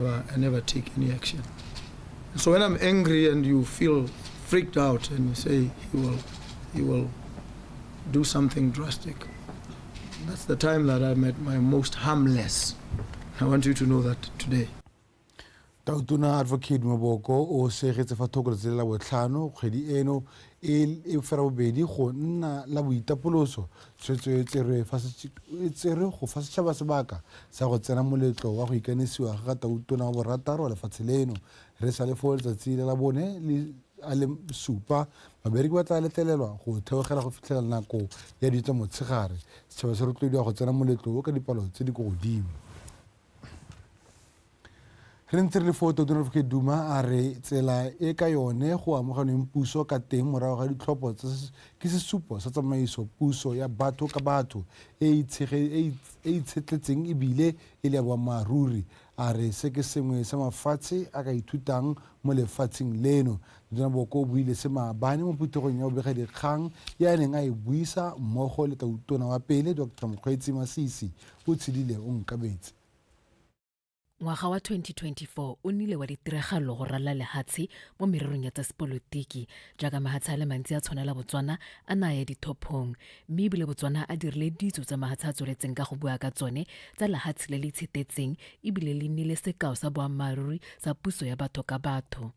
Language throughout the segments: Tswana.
Uh, I never take any action. So when I'm angry and you feel freaked out and you say he will, he will do something drastic, that's the time that I'm at my most harmless. I want you to know that today. tautona advocate maboko o segetse fa thoko letsele la botlhano kgwedi eno e, e fela bobedi go nna la boitapoloso Tshwetso e tserwe go fa setšhaba sebaka sa go tsena moletlo wa go ikanisiwa ga ga Tautona wa borataro wa lefatshe leno. Re sa le foo letsatsi la labone le a le supa, babereki ba tla letlelelwa go theogela go fitlhela nako ya di tsa motshegare. Setšhaba se rotloediwa go tsena moletlo o ka dipalo tse di ko godimo. re ntse re le foo todona re ke duma a re tsela e ka yone go amoganweng puso ka teng morago ga ditlhopho ke sesupo sa tsamaiso puso ya batho ka batho e e e e itshetletseng ebile e le ya boammaaruri a re se ke sengwe sa mafatshe a ka ithutang mo lefatsheng leno tona boko o buile se maabane mo phuthegong ya bobega dikgang ya a neng a e buisa mmogo le tautona wa pele dr mokgweetsi masisi o tshedile o nkabetse Ngwaga wa 2024 o nnile wa ditiragalo go ralala lehatshe mo mererong ya tsa sepolotiki jaaka mahatshe a le mantsi a tshwanela Botswana a na ya dithophong mme ebile Botswana a dirile ditso tsa mahatshe a tsweletseng ka go bua ka tsone tsa lehatshe le le itshetetseng ebile le nnile sekao sa boammaaruri sa puso ya batho ka batho.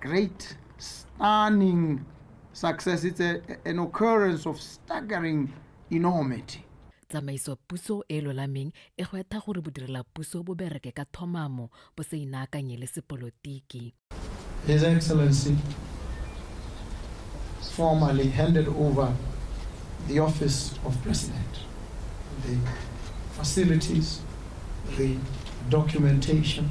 great, stunning success. It's a, an occurrence of staggering enormity. tsamaiso puso e lolameng e gwetha gore bodirela puso bo bereke ka thomamo bo se inaakanye le sepolotiki His Excellency formally handed over the office of President, the facilities, the documentation,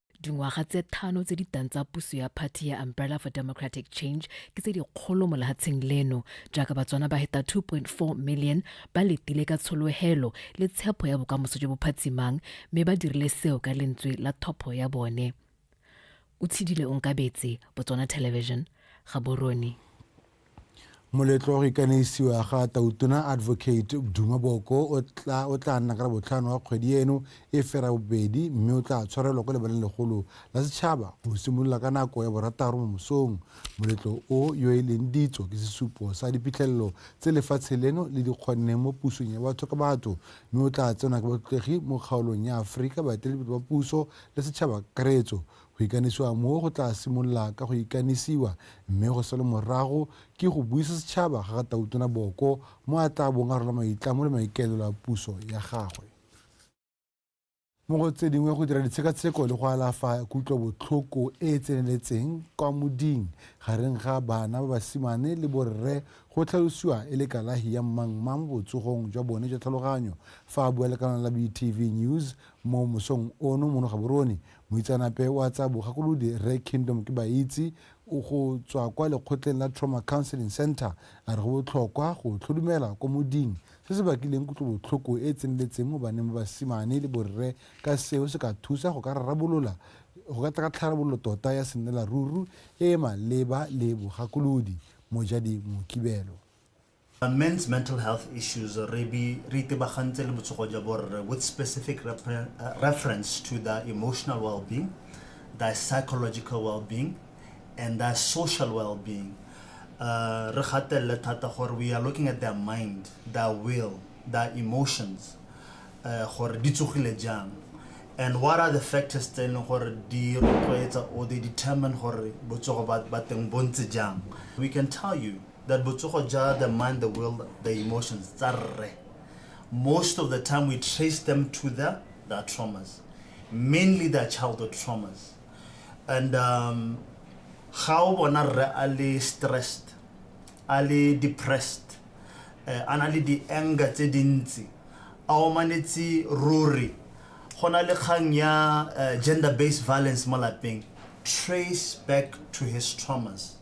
dingwaga tse thano tse di tang tsa puso ya party ya umbrella for democratic change ke tse dikgolo mo lehatsheng leno jaaka batswana ba heta 2.4 million ba letile ka tsholohelo le tshepo ya bokamoso jo bo phatsimang mme ba dirile seo ka lentswe la thopho ya bone o tshidile onkabetse botswana television ga borone Moletlo wa go ikaneisiwa ga Tautona Advocate Duma Boko o tla o tla nna ka la botlhano wa kgwedi eno e fera bobedi mme o tla tshwarelwa kwa lebaleng legolo la setšhaba go simolola ka nako ya borataro mo mosong. Moletlo o yo e leng ditso ke sesupo sa diphitlhelelo tse lefatshe leno le di kgonneng mo pusong ya batho ka batho mme o tla tsenwa ke batlotlegi mo kgaolong ya Aforika, baeteledipele ba puso le setšhaba kakaretso. Go ikanisiwa moo go tlaa simolola ka go ikanisiwa mme go sale morago ke go buisa setšhaba ga ga Tautona Boko mo a tlaa bong a rola maitlamo le maikaelelo a puso ya gagwe. Mo go tse dingwe go dira ditshekatsheko le go alafa kutlobotlhoko e e tseneletseng kwa moding gareng ga bana ba basimane le borre go tlhalosiwa e le kalahi ya mmangma mo botsogong jwa bone jwa tlhaloganyo fa a bua le kanale la BTV News mo mosong ono mono gaborone Moitseanape wa tsa bogakolodi Rre Kingdom Kibaitse o go tswa kwa lekgotleng la Trauma Counseling Centre a re go botlhokwa go tlhodumela kwa moding se se bakileng kutlobotlhoko e e tseneletseng mo baneng ba basimane le borre ka seo se ka thusa go ka rarabolola go ka tla ka tlharabololo tota ya sennelaruru e e maleba le bogakolodi. Mojadi Mokibelo. Men's Mental Health Issues re be re itebagantse le botsogo jwa borre with specific reference to their emotional well-being, their psychological well-being, and their social well-being. Uh, re gatelele thata gore we are looking at their mind, their will, their emotions, uh, gore di tsogile jang and what are the factors tse e leng gore di rotloetsa or they determine gore botsogo ba teng bo ntse jang we can tell you that botsogo ja the mind the will the emotions tsa rre most of the time we trace them to their, their traumas mainly their childhood traumas and um, ga o bona rre a le stressed a le depressed uh, a na le di-anger tse dintsi a omanetse ruri go na le kgang ya uh, gender based violence mo lapeng trace back to his traumas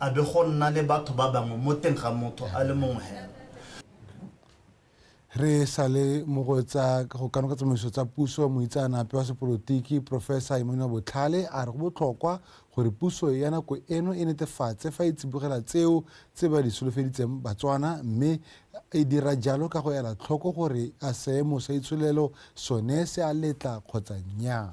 a be go nna le batho ba bangwe mo teng ga motho a le mongwe hela. Re sale mo go tsa go kanoka tsamaiso tsa puso moitsaanape wa sepolotiki Professor Emmanuel Botlhale a re go botlhokwa gore puso ya nako eno e netefatse fa e tsibogela tseo tse ba di solofeditseng Batswana mme e dira jalo ka go ela tlhoko gore a seemo sa itsholelo sone se a letla kgotsa nnyaa.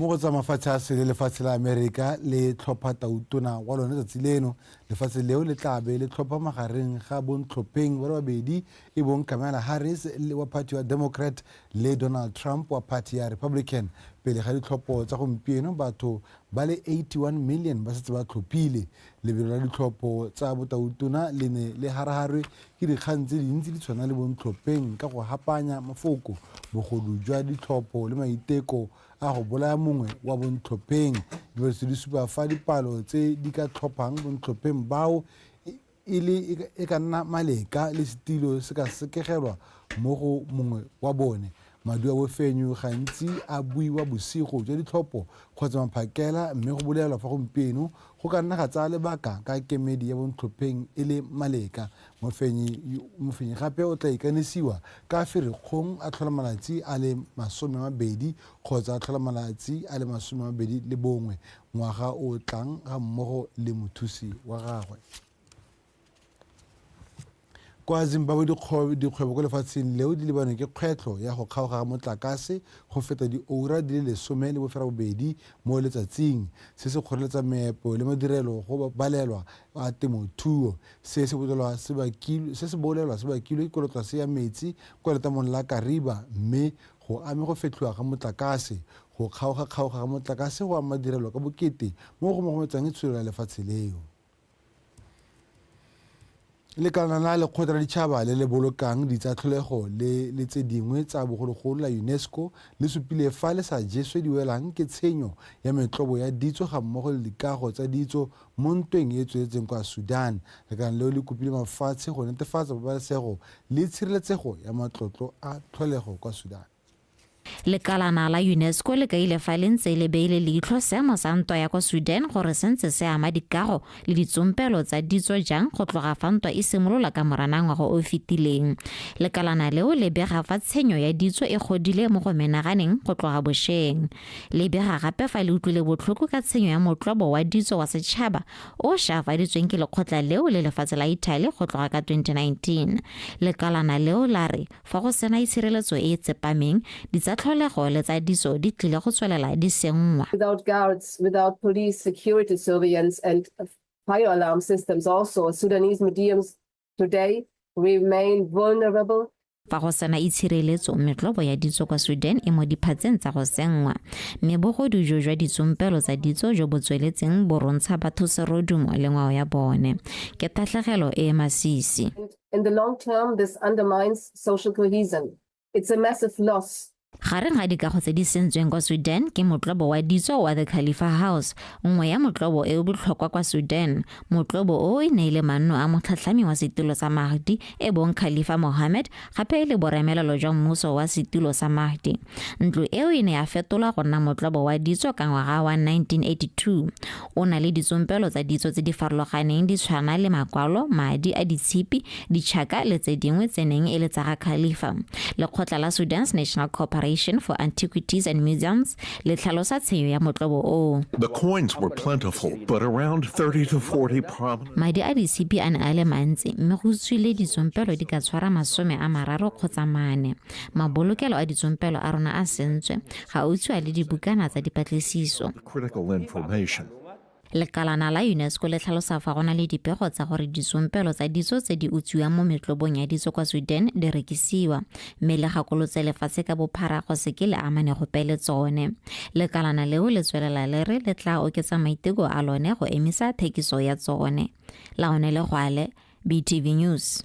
mo go tsa mafatshe a sele lefatshe la amerika le tlhopha tautona wa lone tsatsi leno lefatshe leo le tlabe le tlhopha magareng ga bontlhopheng ba le babedi e bong kamala harris wa party wa democrat le Donald Trump wa phathi ya Republican pele ga ditlhopho tsa gompieno batho ba le 81 million ba setse ba tlhophile. Lebelo la ditlhopho tsa botautona le ne le haraharwe ke dikgang tse dintsi di tshwana le bontlhopheng ka go hapanya mafoko, bogodu jwa ditlhopho le maiteko a go bolaya mongwe wa bontlhopheng. Dipatlisiso di supa fa dipalo tse di ka tlhophang bontlhopheng bao e le e ka nna maleka le setilo se ka sekegelwa mo go mongwe wa bone madi wa bofenyu gantsi a buiwa bosigo jwa ditlhopho kgotsa maphakela mme go bolelwa fa gompieno go ka nna ga tsaya lebaka ka kemedi ya bontlhopheng e le maleka mofenyi gape o tla ikanisiwa ka ferikgong a tlhola malatsi a le masome mabedi kgotsa a tlhola malatsi a le masome mabedi le bongwe ngwaga o o tlang ga mmogo le mothusi wa gagwe. Kwa Zimbabwe dikgwebo ko lefatsheng leo di lebanwe ke kgwetlho ya go kgaoga ga motlakase go feta dioura di le lesome le bofera bobedi mo letsatsing, se se kgoreletsang meepo le madirelo go balelwa a temothuo. Se se bolelwa se bakilwe ke kolotlase ya metsi kwa letamong la Kariba mme Go ame go fetlhiwa ga motlakase. Go kgaoga-kgaoga ga motlakase go ama direlo ka bokete mo go mogometsang e tsholelo ya lefatshe leo. Lekalana la Lekgotla la Ditšhaba le le Bolokang Ditsatlholego le le tse dingwe tsa bogologolo la UNESCO le supile fa le sa jeswe diwelang ke tshenyo ya metlobo ya ditso ga mmogo le dikago tsa ditso Mo ntweng e e tsweletseng kwa Sudan, lekala leo le kopile mafatshe go netefatsa pabalesego le tshireletsego ya matlotlo a tlholego kwa Sudan. Lekalana la UNESCO le kaile fa le ntse le beile leitlho seemo sa ntwa ya kwa Sudan gore se ntse se ama dikago le ditsompelo tsa ditso jang go tloga fa ntwa e simolola ka Moranang ngwaga o o fetileng. Lekalana leo le bega fa tshenyo ya ditso e godile mo go menaganeng go tloga bosheng. Le bega gape fa le utlwile botlhoko ka tshenyo ya motlobo wa ditso wa setšhaba o shaafaditsweng ke lekgotla leo le lefatshe la Italy go tloga ka 2019. Lekalana leo la re fa go sena itshireletso e e tsepameng, ditsatlholego le tsa ditso di tlile go tswelela di senngwa. Without guards, without police security surveillance and fire alarm systems also, Sudanese mediums today remain vulnerable Fa go sena itshireletso, metlobo ya ditso kwa Sweden e mo diphatseng tsa go senngwa, mme bogodu jo jwa ditsompelo tsa ditso jo bo tsweletseng bo rontsha batho serodumo le ngwao ya bone. Ke tatlhegelo e e masisi. In the long term, this undermines social cohesion. It's a massive loss. gareng ga dikago tse di sentsweng kwa sudan ke motlobo wa ditso wa the khalifa house nngwe ya motlobo e o botlhokwa kwa sudan motlobo o e ne e le manno a motlhatlhami wa setulo sa mahdi e bong khalifa mohammed gape e le boremelelo jwa mmuso wa setulo sa mahdi ntlo eo e ne ya fetolwa go nna motlobo wa ditso ka ngwaga wa 1982 O na le ditsompelo tsa ditso tse di farologaneng di tshwana le makwalo, madi a ditshipi, ditšhaka le tse dingwe tse neng e le tsa ga Khalifa. Lekgotla la Sudan's National Corporation for Antiquities and Museums le tlhalosa tshenyo ya motlobo oo. The coins were plentiful, but around 30 to 40 prominent. Madi a ditshipi a ne a le mantsi, mme go tswile ditsompelo di ka tshwara masome a mararo kgotsa mane. Mabolokelo a ditsompelo a rona a sentswe, ga o tswa le dibukana tsa dipatlisiso. critical information. lekalana la unesco le tlhalosa fa go na le dipego tsa gore ditsompelo tsa ditso tse di utswiwang mo metlobong ya ditso kwa sweden di rekisiwa mme le gakolotse lefatshe ka bophara go seke le amane gope le tsone lekalana leo le tswelela le re le tla oketsa maiteko a lone go emisa thekiso ya tsone laone le gwale btv news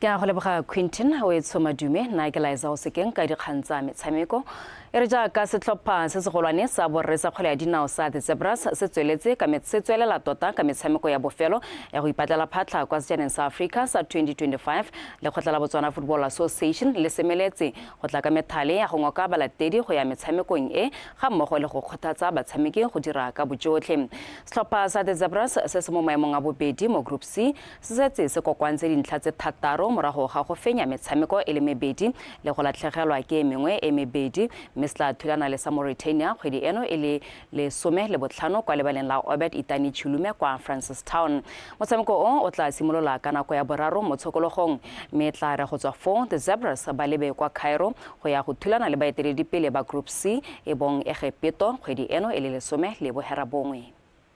ke a go leboga quintin o e tsho madume nna ke laetsa go sekeng ka dikgang tsa metshameko e re jaaka setlhopha se segolwane sa borre sa kgwele ya dinao sa the zebras se tsweletse se tswelela tota ka metshameko ya bofelo ya go ipatlela phatlha kwa sejaneng sa africa sa 2025 lekgotla la botswana football association le semeletse go tla ka methale ya go ngoka balatedi go ya metshamekong e ga mmogo le go kgothatsa batshameki go dira ka bojotlhe setlhopha sa the zebras se se mo maemong a bobedi mo group c se setse se kokoantse dintlha tse thataro morago ga go fenya metshameko e le mebedi le go latlhegelwa ke e mengwe e mebedi mme se tla thulana le sa Mauritania kgwedi eno e le lesome le botlhano kwa lebaleng la Obed Itani Chulume kwa Francistown. Motshameko o o tla simolola ka nako ya boraro mo tshokologong mme e tla re go tswa foo the Zebras ba lebe kwa Cairo go ya go thulana le baeteledipele ba Group C e bong Egepeto kgwedi eno e le lesome le bohera bongwe.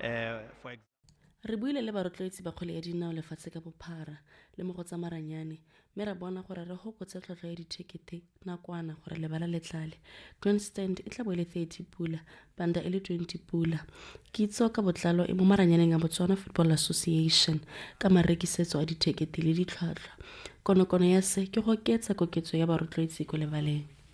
Eh, re buile le barotloetsi ba kgwele ya dinao lefatshe ka bophara le mo go tsa maranyane mme ra bona gore re gokotse tlhotlhwa ya dithekete nakwana gore lebala le tlale grandstand e tla bo e le 30 pula banda e le 20 pula kitso ka botlalo e mo maranyaneng a botswana football association ka marekisetso a dithekete le ditlhwatlhwa konokono ya se ke go oketsa koketso ya barotloetsi ko lebaleng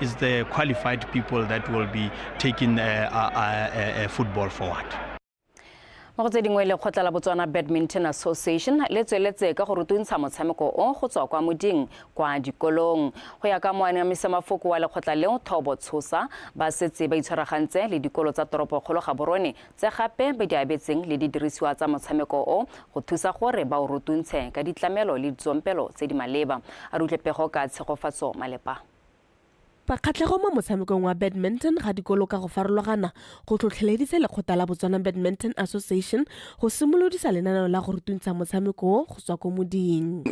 Is there qualified people that will be taking uh, uh, uh, uh, uh football forward? mo go tse dingwe lekgotla la botswana badminton association le tsweletse ka go rutuntsha motshameko o go tswa kwa moding kwa dikolong go ya ka moanamisa mafoko wa lekgotla leo thobo tshosa ba setse ba itshwaragantse le dikolo tsa toropokgolo ga borone tse gape ba di abetseng le didirisiwa tsa motshameko o go thusa gore ba o rutuntshe ka ditlamelo le ditsompelo tse di maleba a rutle pego ka tshegofatso malepa Fa kgatlhego mo motshamekong wa badminton ga dikolo ka go farologana go tlhotlheleditse lekgotla la Botswana Badminton Association go simolodisa lenaneo la go rutuntsha motshameko o go tswa ko moding.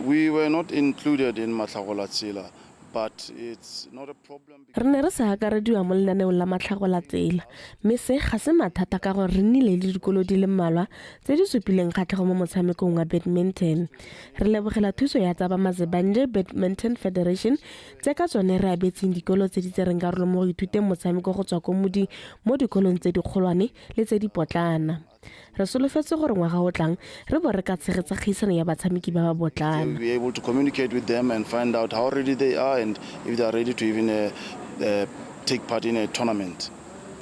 Re ne re sa akarediwa mo lenaneong la matlhagolatsela mme se ga se mathata ka gore re nnile le dikolo di le mmalwa tse di supileng kgatlhego mo motshamekong wa badminton. Re lebogela thuso ya tsa Bamazebanje Badminton Federation tse ka tsone re abetseng dikolo tse di tsereng karolo mo go ithuteng motshameko go tswa ko modi mo dikolong tse dikgolwane le tse dipotlana. Re solofetse gore ngwaga o tlang re bo re ka tshegetsa kgaisano ya batshameki ba ba botlana. We'll be able to communicate with them and find out how ready they are and if they are ready to even uh, uh, take part in a tournament.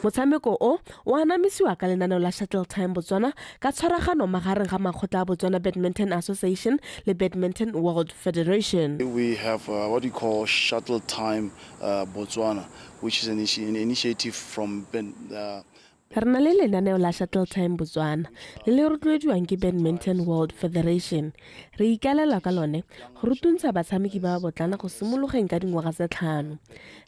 Motshameko o o anamisiwa ka lenaneo la Shuttle Time Botswana Ka tshwaragano magareng ga makgotla a Botswana Badminton Association le Badminton World Federation. We have uh, what we call Shuttle Time uh, Botswana, which is an, initi an initiative from ben, uh, Re na le lenaneo la Shuttle Time Botswana le le rotloediwang ke Badminton World Federation. Re ikalela ka lone go rutuntsha batshameki ba botlana go simologeng ka dingwaga tse tlhano.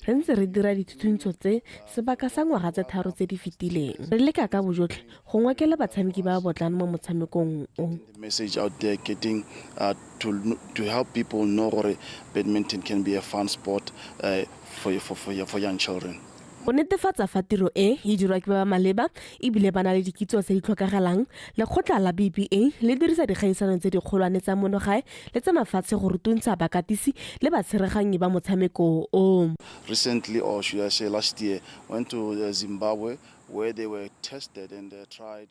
Re ntse re dira dithutuntsho tse sebaka sa ngwaga tse tharo tse di fetileng. Re leka ka bojotlhe go ngwakela batshameki ba ba botlana mo motshamekong o. the message out there getting uh, to, to help people know gore badminton can be a fun sport uh, for, for, for, for young children go netefatsa fa tiro e e dirwa ke ba ba maleba ebile ba na le dikitso tse di tlhokagalang lekgotla la bba le dirisa dikgaisano tse dikgolwane tsa monogae le tsa mafatshe go rutuntsha bakatisi le batsheraganyi ba motshameko o recently or should I say last year went to uh, Zimbabwe where they were tested and uh, tried.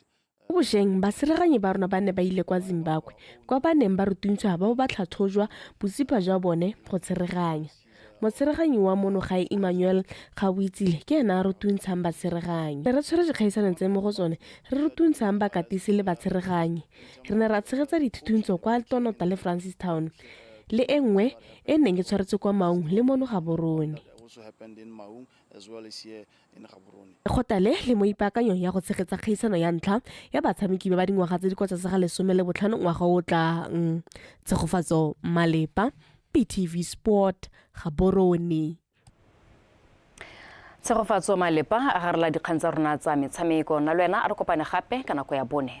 Mo bosheng, baseleganyi ba rona ba ne ba ile kwa Zimbabwe, kwa ba neng ba rutuntswa ba bo ba tlhatlhojwa botsipa jwa bone go tsereganya. Motsereganyi wa mono gae Emmanuel Gaboitsile ke ena a rutuntshang batsereganyi. Re tshwere dikgaisanong tse mo go tsone re rutuntshang bakatisi le batsereganyi. Re ne ra tshegetsa dithutuntso kwa Altonota le Francistown le e nngwe e neng e tshwaretswe kwa Maung le mono Gaborone. also happened in Maung as well as here Lekgotla le le mo ipaakanyong ya go tshegetsa kgaisano ya ntlha ya batshameki ba ba dingwaga tse di kwa tlase ga lesome le botlhano ngwaga o o tlang. Tshegofatso Malepa, BTV Sport, Gaborone. Tshegofatso Malepa a garela dikgang tsa rona tsa metshameko. Nna le wena a re kopane gape ka nako ya bone.